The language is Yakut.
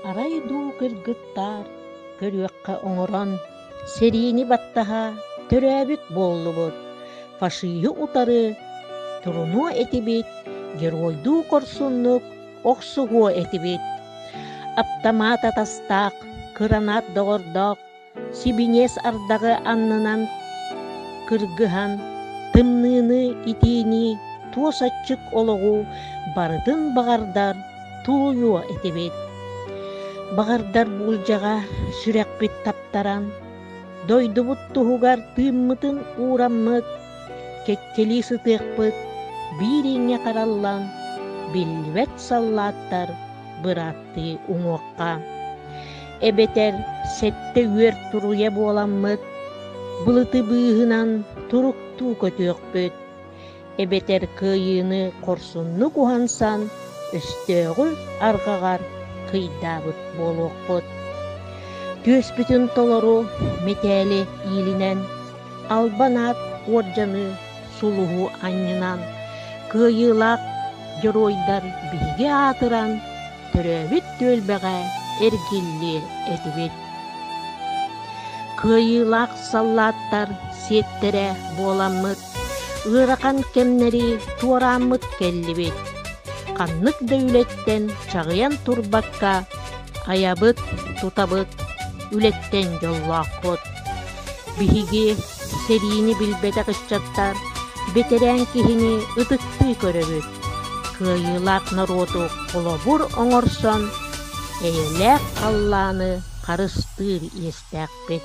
Арай дуу кыргыттаар көрүөххэ оҥорон, сэриини баттаһа төрөөбүт буоллубут, фашиһы утары турунуо этибит, геройдуу корсуннук охсуһуо этибит. Аптамаат атастаах, кыранат доҕордоох сибиниэс ардаҕы аннынан кыргыһан тымныыны итиини туос аччык олоҕу барытын баҕардар туойуо этибит баҕардар буулдьаҕа сүрэхпит таптаран дойдубут туһугар тыыммытын уураммыт кэккэлии сытыахпыт биир иҥҥэ хараллан биллибэт саллааттар бырааттыы уҥуохха эбэтэр сэттэ үөр туруйа буоламмыт, былытыбыыһынан туруктуу көтүөхпүт, эбэтэр кыайыыны хорсуннук уһансан, өстөөҕү арҕаҕар кыйдаабыт буолуохпут. Түөспүтүн толору мэтээли иилинэн, албан аат уордьаны сулуһу анньынан, кыайыылаах дьоруойдар биһиги аатыран, төрөөбүт түөлбэҕэ эргиллиэ этибит. Кыайыылаах саллааттар сиэттэрэ буоламмыт, ыарахан кэмнэри туорааммыт кэллибит. Ханнык да үлэттэн чаҕыйан турбакка, айабыт, тутабыт, үлэттэн дьоллоохпут. Биһиги Сэриини билбэтэх ыччаттар бэтэрээн киһини ытыктыы көрөбүт. Кыайыылаах норуоту холобур оҥорсон, эйэлээх халлааны харыстыыр иэстээхпит.